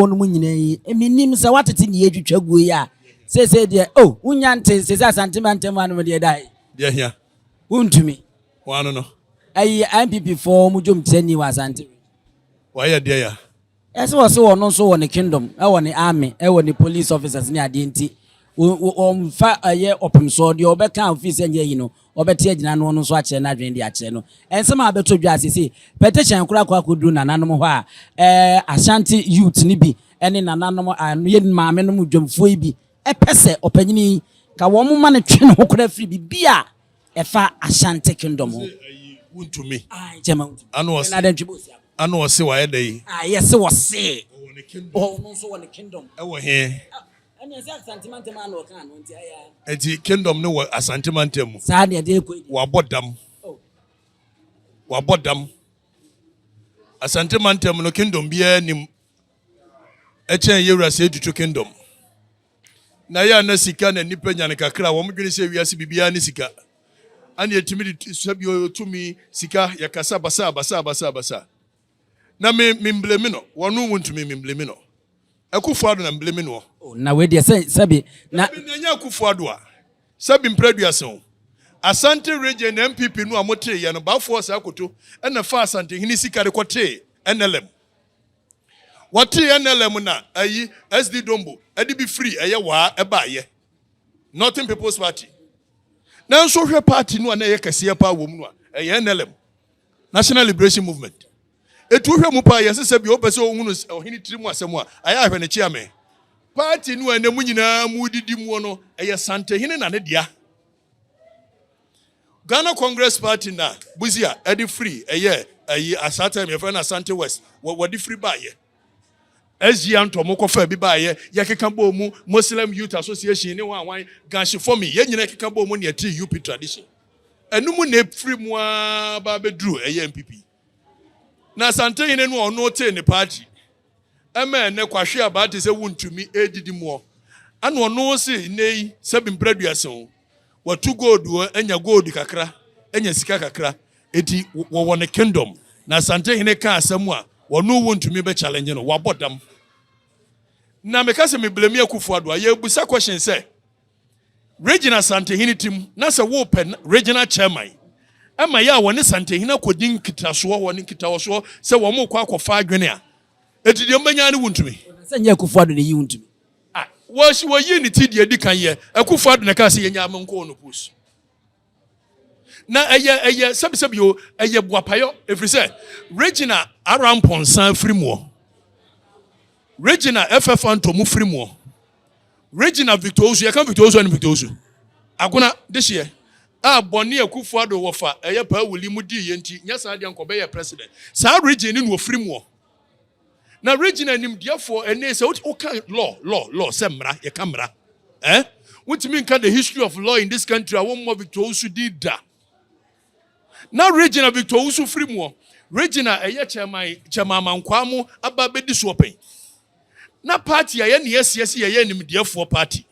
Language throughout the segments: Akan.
wɔnom nyinaa yi, menim sɛ woatete ne yɛtwitwa guo yi a, seesei deɛ, o, oh, wonya nte nse sɛ asante ma ntam anom deɛ dae. Deɛ hia. Wontumi. Wɔano no. Ayi NPP fɔɔ mu dwom tiani wɔ asante. Wɔayɛ deɛ ya. Ɛsɛ wɔ se wɔno nso wɔ ne kingdom, ɛwɔ ne army, ɛwɔ ne police officers ne adeɛ nti, wɔmfa ɛyɛ ɔpemsoɔ deɛ ɔbɛka ofii sɛ nyɛ yi no, wɔbɛte agyina noɔ no nso akyerɛ no adwene de akyerɛ no nsɛm a abɛtɔ dwa seesei. Petition koraa kɔ akɔduru nananom hɔ a ɛɛ Ashanti youth no bi ne nananom a yɛ maamenom odwamfoɔ yi bi pɛ sɛ ɔpanyini yi ka wɔn mma no twe ne ho koraa firi biribi a ɛfa Ashanti kingdom ho. Ɔse ayi wontumi. Ae nkyɛ ma wontumi. Ɛna ɔse. Ɛna adɛn ntwe bɛ ɔsi aba. Ɛna ɔse wayɛ dɛn. Ae yɛse ɔse. Ɔwɔ ne kingdom. Ɔno nso wɔ ne kingdom. Ɛwɔ he? Ɛneɛ sɛ Asante mantam ara na ɔkaa no nti ayɛ ara. Nti kingdom no wɔ Asante mantam mu. Saa deɛ deɛ kɔ. Wabɔ dam. Oh. Wabɔ dam. Asante mantam no kingdom biara nim. Ɛkyɛn yɛwura sɛ etutu kingdom. Na yɛ na sika na nipa nya no kakra wɔn dwene sɛ wiase biribiara ne sika. Ani etimi de sɛ bi otumi sika yɛ kasa basa basa basa basa. Na me me mblemi no wɔ no wo ntumi me mblemi no Akufo Ado na mblemi no ɔ. Oh na wei deɛ sɛ sɛbi na. Dabi na ɛnyɛ Akufo Ado a sɛbi mpra aduasa o Asante region na NPP no a mo tee yɛ no Bafo ɔsɛ Akoto na faa Asantehene sika de kɔ tee NLM wɔ tee NLM na ayi SD Dombo de bi firi ɛyɛ waa ɛbaa yɛ Northern People's Party Nanso hwɛ party no a na ɛyɛ kɛseɛ paa wɔ mu no a ɛyɛ NLM. National Liberation Movement. Etu wohwɛ mu paa yɛn sesɛ bia wopɛ sɛ ohunu ɔhene tiri mu asɛm a, ayɛ ahwɛ ne kyeame. Party no a ɛnɛ mu nyinaa mu didi muo no, ɛyɛ Santehene na ne dea. Ghana Congress Party na Busia ɛde firi ɛyɛ ayi asaa time yɛfrɛ no Asante West wɔ wɔde firi baayɛ. SG Antɔ mo kɔfa bi baayɛ yɛkeka bɔɔ mu Muslim Youth Association ne wɔn awan Gashi Fomi yɛn nyinaa keka bɔɔ mu ne ɛte UP tradition. Ɛno mu na ɛfiri mu ara ba bɛduru ɛyɛ mpipi. Na Asantehene no a ɔno tee ne paakyi ɛma ɛnɛ kwahwe abaa te sɛ wontumi ɛredidi moɔ. Ɛna ɔno se nnɛ yi sɛbi mprɛduasa o, watu gold o, anya gold kakra, anya sika kakra. Eti wɔwɔ ne kingdom na Asantehene ka asɛm a ɔno wontumi bɛ challenge no, wabɔ dam. Na meka sɛ me blame Akufo-Addo a, yɛbusa question sɛ Regina Santehene tim na sɛ wopɛ Regina Chairman ɛma yɛ a wɔne Santehene akɔdi nkitasoɔ wɔ ne nkitaɔsoɔ sɛ wɔn kɔ akɔfa adwene a ɛti deɛ mbɛnya ne wontumi. Sɛ nyɛ Akufo Addo na ɛyi wontumi. Ah, wɔsi wɔyi ne ti deɛ ɛdi kan yɛ Akufo Addo na ɛkaa sɛ yɛnya amenkɔɔ no post. na ɛyɛ ɛyɛ sɛbisɛbi o ɛyɛ buapayɔ efiri sɛ regina arampɔnsa firi muɔ regina ɛfɛ fantom firi muɔ regina victor osu yɛka victor osu ɛne victor osu agona de hyeɛ a bɔne akufo ado wɔfa ɛyɛ paa wuli mu di yɛ nti nyɛ saa deɛ nkɔbɛyɛ president saa regina ne na ofiri muɔ Na Regina nimdeɛfoɔ ɛnee sɛ woka law law law sɛ mmara yɛka mmara eh wontumi nka the history of law in this country a wɔmmɔ Victor Owusu din da na Regina Victor Owusu firi muɔ Regina ɛyɛ chairman chairman amankwaa mo aba bɛdi soɔ pɛn na party a yɛne yɛsiasi yɛyɛ nimdeɛfoɔ party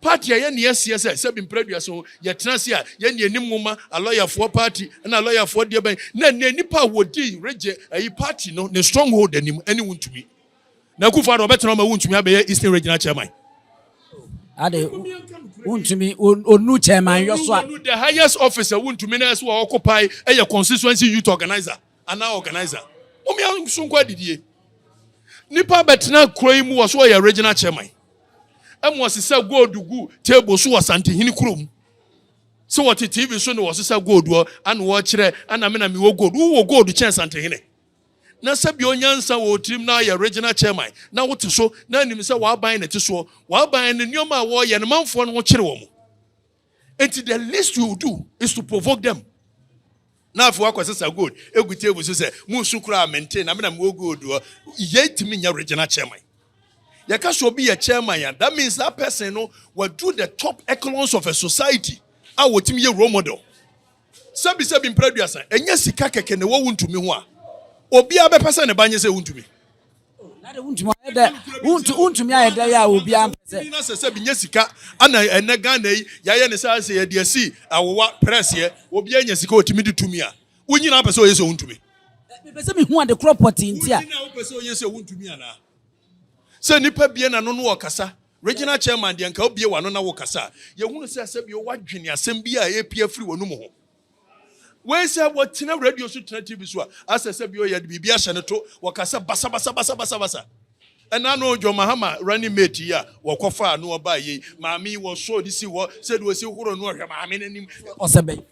Paati a yɛn ani asie sɛ sɛbi mpere aduasa o, yɛtena ase a yɛn deɛ nim nwoma, alɔyafoɔ paati ɛna alɔyafoɔ deɛ bɛn na ɛnɛ nnipa a wɔdi regye ayi paati no ne stronghold anim ɛne wo ntumi na akufo ado ɔbɛtena ɔma wo ntumi abɛyɛ Eastern Regional Chairman. Ade wo ntumi onu chairman yɔ so a. The highest officer wo ntumi na ɛso a ɔkopae ɛyɛ constituency youth organizer. anaa organiser. Mom yɛ nso nkɔ adidie. Nipa bɛtena kuro yi mu wɔ so ɔyɛ regional chairman. Ɛmu ɔsi sɛ gold gu table so wɔ santehini kuro mu. Sɛ wɔte TV so na wɔsi sɛ gold wɔ ana wɔkyerɛ ana me na me wɔ gold. Wowɔ gold kyɛn santehini. Na sɛ bi onyansa wɔ tirim na ayɛ regional chairman na wote so na anim sɛ w'aban na ɛte soɔ. W'aban no nneɛma a wɔyɛ no manfoɔ no ho kyere wɔn. Enti the least you do is to provoke them. Na afei wakɔsesa gold egu table so sɛ munsu koraa mente na me na mewɔ gold hɔ. Yei tumi nyɛ regional chairman. Yɛka sɛ obi yɛ chairman a, that means that person no wadu the top echelons of a society a wɔtumi yɛ role model. Sɛbisɛbi mpra aduasa, ɛnyɛ sika kɛkɛ na ɛwɔ wo ntumi ho a obiara bɛpɛ sɛ ne ba nyɛ sɛ wontumi. Wontumi ayɛ dɛ yɛ a obiara mpɛ sɛ. Na sɛ sɛbi nyɛ sika ana ɛnɛ Ghana yi yɛayɛ ne saa sɛ yɛde asi awowa prɛseɛ obiara nya sika ɔtumi de tumi a wo nyina apɛ sɛ ɔyɛ sɛ wontumi. Mepɛ sɛ mehu ade korɔ pɔtee nti a. Wo nyina wopɛ sɛ ɔyɛ sɛ wontumi anaa? Sɛ nipa bie na no no ɔkasa Regional Chairman deɛ nka wobue w'ano na wokasa a yɛhunu sɛ sɛbio woadwene asɛm bi a ɛrepue afiri w'anum ho. Wei sɛ wɔtena radio so tena TV so a asɛ sɛbio yɛde biribi ahyɛ no to wɔkasa basabasabasabasabasa. Ɛna no John Mahama running mate yi a wɔkɔfaa no ɔbaa yei maame yi wɔsɔɔ de sii hɔ sɛdeɛ ɔsi horo no ɔhwɛ maame no anim. Ɔsɛ bɛn?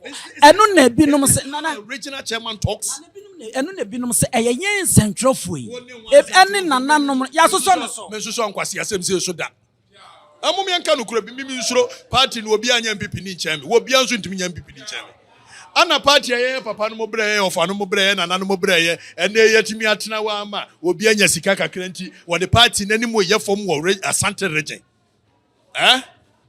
Ɛno na ebinom se nana. Regional Chairman talks. Ɛno na ebinom sɛ ɛyɛ yɛn nsɛntwerɛfoɔ yi ɛne nananom yɛasosɔ no so. Mensosɔ nkwasi asɛm sei so da. Ɛmo miɛnka nokorɛ bi, mimi nsuro party no obi anyɛ MPP ni nkyɛn me, wɔbia nso ntumi nyɛ MPP ni nkyɛn me. Ana party a yɛyɛ papa nom berɛ, yɛyɛ ɔfa nom berɛ, yɛyɛ nana nom berɛ yɛ ɛnɛ yi yɛtumi atena hɔ ama obi anya sika kakra nti wɔde party no anim yɛ fam wɔ Asante region. Eh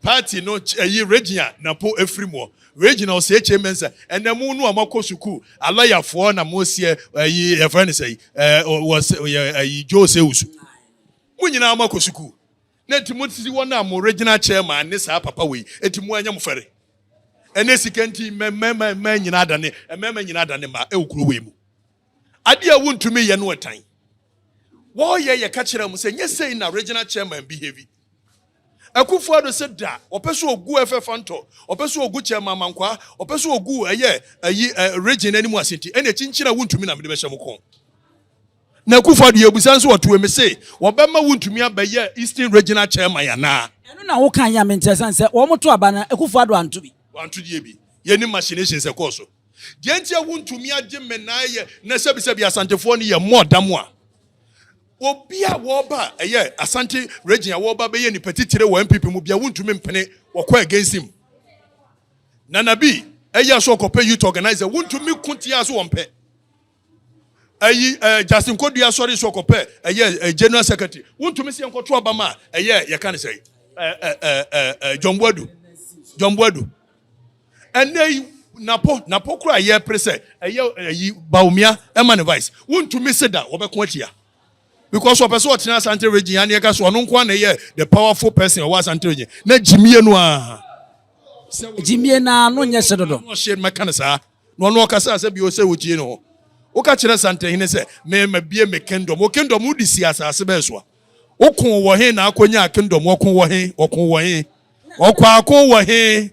party no ɛyi Regina na po ɛfiri moɔ Regina ɔsɛ HA Mensah ɛnɛ mo no a mo akɔ sukuu a lawyer foɔ na mo seɛ ɛyi yɛfrɛ no sɛyi ɛɛ wɔ sɛ yɛ ɛyi Joe sɛ wusu mo nyinaa mo akɔ sukuu na nti mo sisi wɔn a mo Regina chairman ne saa papa wei nti mo ɛnyɛ mo fɛre ɛnɛ sika nti mɛ mɛ mɛ mɛ nyinaa adane mɛɛma nyinaa adane mmaa ɛwɔ kuro wei mu. Ade a wontumi nyɛ no tan. Wɔyɛ yɛka kyerɛ wɔn sɛ nyɛ sei na regional chairman bi heavy. Akufo Addo sɛ da ɔpɛ so ogu FF Antɔ, ɔpɛ so ogu chairman Amankwaa, ɔpɛ so ogu ɛyɛ ayi region anim ase nti ɛna kyinkyini a wontumi na mede bɛhyɛ mo kɔn. Na Akufo Addo yɛ busa nso ɔtoe me se wɔbɛma wontumi abɛyɛ Eastern Regional Chairman anaa. Ɛno na woka yɛ a menteɛ sane sɛ wɔn to aba no Akufo Addo anto bi. Wanto deɛ bi. Yɛnim machinations ɛkɔɔ so. Deɛ nti a wontumi agye mmenae yɛ na sɛbisɛbi asantefoɔ no yɛ mmɔ da mu a obi a wɔba ɛyɛ asante region a wɔba bɛyɛ nipa titire wɔ npp mu bia wontumi mpene wɔkɔ against him nana bi ɛyɛ so ɔkɔpɛ youth organizer wontumi ko tia so wɔmpɛ ɛyi ɛɛ Justin Kodua asɔre so ɔkɔpɛ ɛyɛ general secretary wontumi sɛ yɛnkɔto aba ma ɛyɛ yɛka ne sɛ ɛɛ John Boadu John Boadu ɛnɛ yi napo napo kora yɛ pere sɛ ɛyɛ ɛyi Bawumia ɛma ne vice wontumi se da wɔbɛko atia because ɔpɛ sɛ ɔtena Asante region ya ne yɛka so ɔno nko na ɛyɛ the powerful person ɔwɔ Asante region na gyimie no a gyimie no a no nyɛ hyɛ dodo ɔhyɛ mɛka ne saa Na ɔno ɔkasaa sɛ bio sɛ ogyee ne ho. Woka kyerɛ Santahene sɛ, Me, mabue me kingdom. Wo kingdom wode sii asase bɛɛ soa. Wokoo wɔ he na akonyaa kingdom? Wɔkoo wɔ he? Wɔkoo wɔ he? Ɔkwaako wɔ he?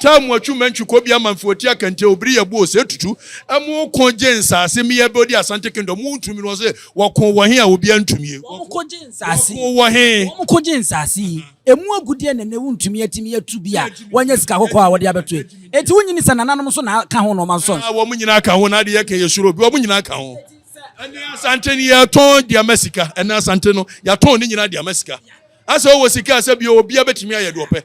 Taa mu atwu mantwi kɔ bi ama mfe ɔti aka nti obiri yɛ buo sɛ tutu. Ɛmo wokoo gye nsase me yɛ bɛ odi Asante kingdom wo ntumi no ɔse wɔkoo wɔ he a obia ntumie. Wɔkoo gye nsase. Wɔkoo wɔ he? Wɔkoo gye nsase yi. Emu agudeɛ na ɛnnɛ wontumi atumi atu bi a wɔnyɛ sika kɔkɔɔ a wɔde abɛto yi. Enti wonnye nni sɛ nananom nso na aka ho na wɔma nsɔ nso? Wɔn nyinaa ka ho na ade yɛka yɛ suro bi. Wɔn nyinaa ka ho. Ɛnnɛ Asante no yɛtɔn de ama sika. Ɛnnɛ Asante no yɛatɔn ne nyinaa de ama sika. Asɛ wowɔ sika a sɛ bio obiara bɛtumi ayɛ deɛ ɔpɛ.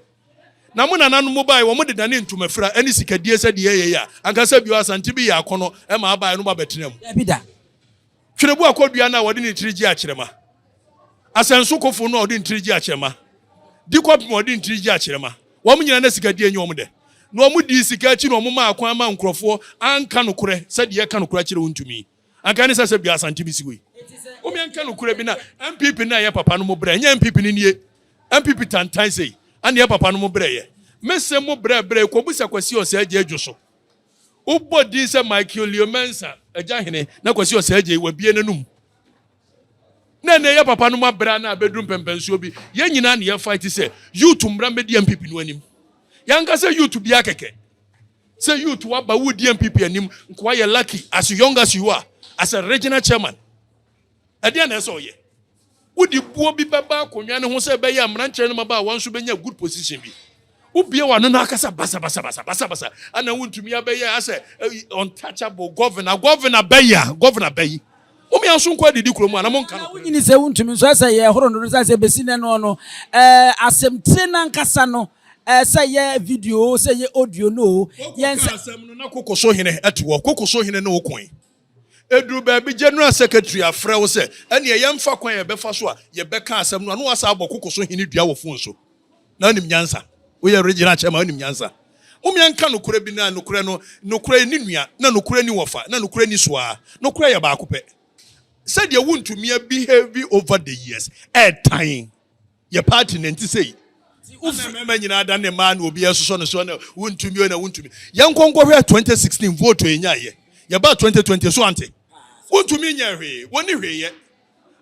Na mo nananom baeɛ wɔn de dane ntomafira ne sikadie sɛdeɛ ɛyɛ yɛ a anka sɛ bio Asante bi yɛ akɔnɔ ma abaeɛ no abɛtena mu. Dabi da. Twerɛbu akɔdua no a wɔde ne tiri gye akyerɛma. Asɛnsokofo no a wɔde ne tiri gye akyerɛma. Di kɔpem a wɔde ne tiri gye akyerɛma. Wɔn nyinaa na sikadie nyɛ wɔn dɛ. Na wɔdii sika akyi na wɔmaa kwan maa nkurɔfoɔ anka nokorɛ sɛ deɛ ɛka nokorɛ akyerɛ wo ntumi. Anka ɛne sɛ sɛ bia Asante bɛsi hɔ yi. Wome nka nokorɛ bi na NPP na ɛyɛ papa no mo brɛ ɛnyɛ NPP no nie. NPP tantan sei. Ɛneɛ papa no mo brɛ yɛ. Mese mo brɛ brɛ yi kɔbusa Kwasi Ɔsɛɛ gya adwo so. Wobɔ din sɛ Michael Leo Mensah, Agya Hene, na Kwasi Osagyei, wabue n'anom. Na ɛnɛ yɛ papa no mu abere a na abɛduru mpɛmpɛnsoɔ bi. Yɛn nyinaa na yɛfight sɛ youth mmra mmɛdi MPP no anim. Yɛanka sɛ youth biara kɛkɛ. Sɛ youth waba wodi MPP anim nkoa yɛ lucky as young as you are as a regional chairman. Ɛdeɛn na ɛsɛ ɔyɛ? Wode buo bi bɛba akonnwa no ho sɛ ɛbɛyɛ a mmeranteɛ no mmabaawa nso bɛnya good position bi. Wobie w'ano na akasa basabasabasa basabasa ana wontumi abɛyɛ asɛ untouchable governor governor bɛyi a governor bɛyi wɔn yɛn nso nkɔ adidi kurom ana monka no. Wonyini sɛ wontumi nso ɛsɛ yɛ horo no no sɛ sɛ bɛsi nɛ no no asɛmtire no ankasa no sɛ yɛ video sɛ yɛ audio no yɛn sɛ. Asɛm no na kokoso hene ati hɔ kokoso hene ne wo koe. Eduru baabi General Secretary afrɛ wo sɛ ɛneɛ yɛmfa kwan a yɛbɛfa so a yɛbɛka asɛm no a na woasan abɔ koko so hene dua wɔ phone so. Na wonim nyansa. Woyɛ Regional Chairman wonim nyansa. Mom yɛnka nokorɛ bi na nokorɛ no, nokorɛ nni nua, na nokorɛ nni wɔfa, na nokorɛ nni soaa. Nokorɛ yɛ baako pɛ. Sɛdeɛ wontumia behave over the years, ɛɛtan. Yɛ party na ɛnti sei. Ana mmarima nyinaa da ne mmaa na obi ɛsosɔ no so na wontumi na wontumi. Yɛn nkɔ nkɔ hwɛ 2016 vote yɛ nya yɛ. Yɛ ba 2020 so ante. Wontumi nyɛ hwee. Wɔni hwee yɛ.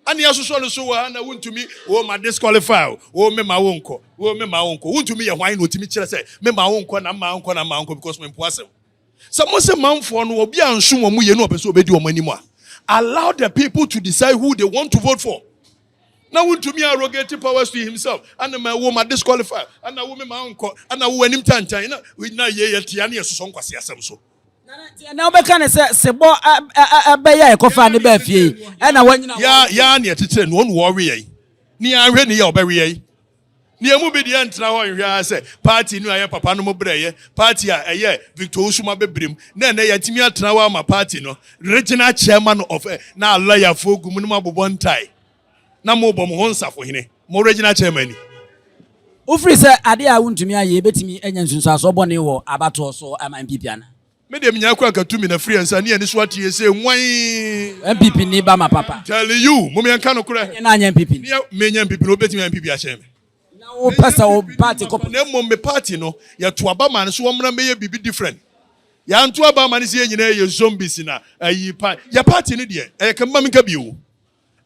Ana yɛsosɔ no so wɔ ha na wontumi o ma disqualify o. O me ma wo nkɔ. O me ma wo nkɔ. Wontumi yɛ hwan na otumi kyerɛ sɛ me ma wo nkɔ na mma nkɔ na mma nkɔ because me mpo asɛm. Sɛ mo se manfoɔ no obi anso wɔn yɛ na ɔpɛ sɛ obedi wɔn anim a allow the people to decide who they want to vote for. na wontumi arrogate powers to himself ana ma ɛwo ma disqualify ana wo me ma nkɔ ana wo anim tantan na na yɛ yɛ tia ne yɛsosɔ nkwase asɛm so na wobɛka ne sɛ sebɔ ɛbɛyɛ a ɛkɔfaa ne baa fie ɛna wanyina yɛa ne ɛkyekyerɛ no ɔne wɔwe yɛn ne yɛanhwɛ ne yɛ ɔbɛwe yɛn Na yɛn mu bi deɛ ntena hɔ nhwɛ ara sɛ party no a ɛyɛ papa no mo berɛ yɛ party a ɛyɛ Victor Owusu ma bɛbrem na ɛnɛ yɛatumi atena hɔ ama party no Regional Chairman of ɛ na lawyer foɔ gu mu na mo abobɔ ntae na mo rebɔ mo ho nsafohene mo Regional Chairman ni. Wofiri sɛ adeɛ a wontumi ayɛ yɛbɛtumi anya nsunsuansoɔ bɔne wɔ abatoɔ so ama NPP anaa? Me deɛ menyaa kura nkatu mina firi ansa ne ani so ateɛ sɛ nwan. NPP ni ba ma papa. Telling you, mom yɛn ka no korɛ. Ɛnyɛ na anyɛ NPP ni. Me nyɛ NPP ni, obi bɛtumi ayɛ NPP akyɛn me. Na wo pɛ sɛ wo party kɔ police. Na mmom me party no, yɛ to aba ma no so wɔmra mɛyɛ biribi different. Yɛ anto aba ama no sɛ yɛn nyinaa yɛ zombies na ayi pa, yɛ party no deɛ ɛyɛ kɛ mma me nka bio.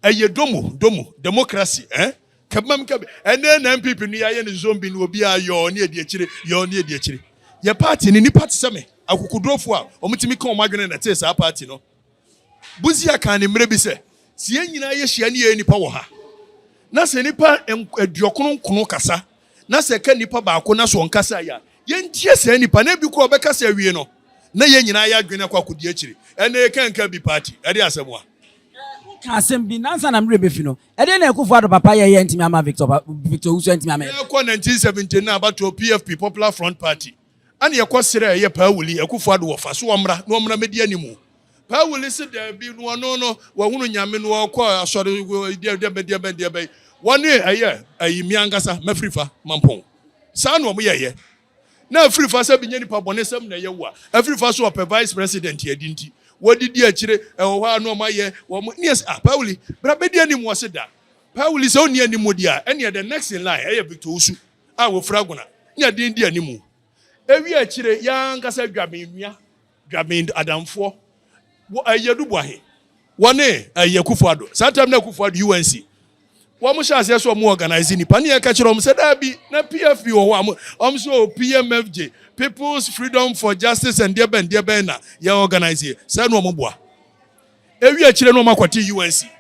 Ɛyɛ domo domo democracy eh kɛbmam kɛb ɛnɛ na NPP no yɛayɛ no zombie no obiaa yɔɔ ne adi akyire yɔɔ ne adi akyire yɛ party no nnipa te sɛ me akokodurofoɔ a wɔn tumi ka wɔn adwene na ɛtee saa party no Busia kaa ne mmerɛ bi sɛ sɛ yɛn nyinaa yɛ hyia ne yɛyɛ nnipa wɔ ha na sɛ nnipa aduɔkono nkono kasa na sɛ ɛka nnipa baako na sɛ ɔnkasaeɛ a yɛntie saa nnipa na ebi kora ɔbɛkasa awie no na yɛn nyinaa yɛ adwene akɔ akɔdi akyire ɛnɛ yɛka nka bi party ɛde asɛm a Woka asɛm bi na ansa na me werɛ bɛfi no, ɛdeɛn na Akuffo Addo papa yɛeɛ antumi amma Victor pa, Victor owusu antumi amma yɛn. Yɛkɔ 1917 no abatoɔ PFP, Popular Front Party, ɛna yɛkɔ srɛɛ yɛ Paa Wuli, Akuffo Addo wɔfa, so ɔmmra na ɔmmra mɛdi animu. Paa Wuli se daabi, na ɔno no wahunu Nyame na ɔkɔ asɔre deɛbɛn deɛbɛn deɛbɛn. Wɔne ɛyɛ ayi, me ankasa, mafiri fa, Mampong. Saa na wɔyɛeɛ. na ɛfiri fa sɛ bi nyɛ nipa bɔne sɛm na ɛyɛ wo a ɛfiri fa so ɔpɛ vice president adi nti wɔde di akyire ɛwɔ hɔ a na ɔma yɛ wɔn ne ɛsɛ ah pawuli bra bɛdi anim wɔ se da pawuli sɛ ɔnni anim di a ɛneɛ the next in line ɛyɛ victor osu a wɔfiri agona ne aden di anim ewi akyire yɛ ankasa adwa me nua Dwabin adamfoɔ wɔ Ayie Aduboa he, wɔne Ayie Akufo-Addo. Saa time no Akufo-Addo, UNC, wɔn hyɛɛ aseɛ sɛ wɔn organise nnipa ne yɛka kyerɛɛ wɔn sɛ daabi, na PFP wɔ hɔ a, wɔn se oo PMFJ, People's Freedom for Justice and deɛ bɛn deɛ bɛn na yɛ organise yɛ. Saa na wɔn boa. Ewie akyire no wɔn akɔte UNC,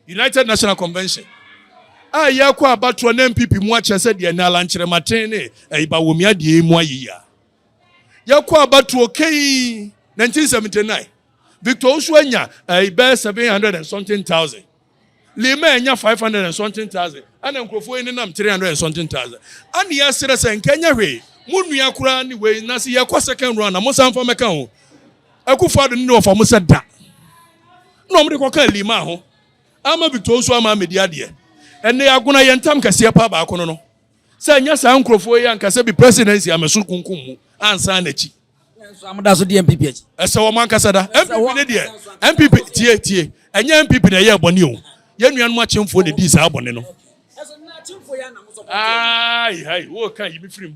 United National Convention, a yɛkɔ abatoɔ na MPP mu akyɛ sɛ deɛ ɛnɛ alankyerɛmaten ne ɛyi Bawumia deɛ yi mu ayeyia. Yɛkɔ abatoɔ kei 1979. Victor Osu anya ɛyi eh, bɛyɛ 700 and something thousand. Lima anya 500 and something thousand. Ɛna nkurɔfoɔ yi nenam 300 and something thousand. Ɛna yɛserɛ sɛ nka ɛnyɛ hwee. Mo nua koraa ne wei na se yɛkɔ second round na mo san fa mɛka ho. Akufo ado ne wɔfa mo sɛ da. Na wɔn de kɔka Lima ho. Ama Victor Osu ama amedi adeɛ. Ɛnna yɛagona yɛn tam kɛseɛ paa baako no no. Sɛ ɛnyɛ saa nkurɔfoɔ yi anka sɛ bi presidency a mɛso kunkum mu ansa nakyi. Nanso amoda so di MPP akyi. Ɛsɛ wɔn ankasa da. MPP ne deɛ MPP tie tie ɛnyɛ MPP na ɛyɛɛ bɔne o. Yɛn nuanom akyemfoɔ na ɛdii saa bɔne no. Aai hai wo ka yi me firi mu.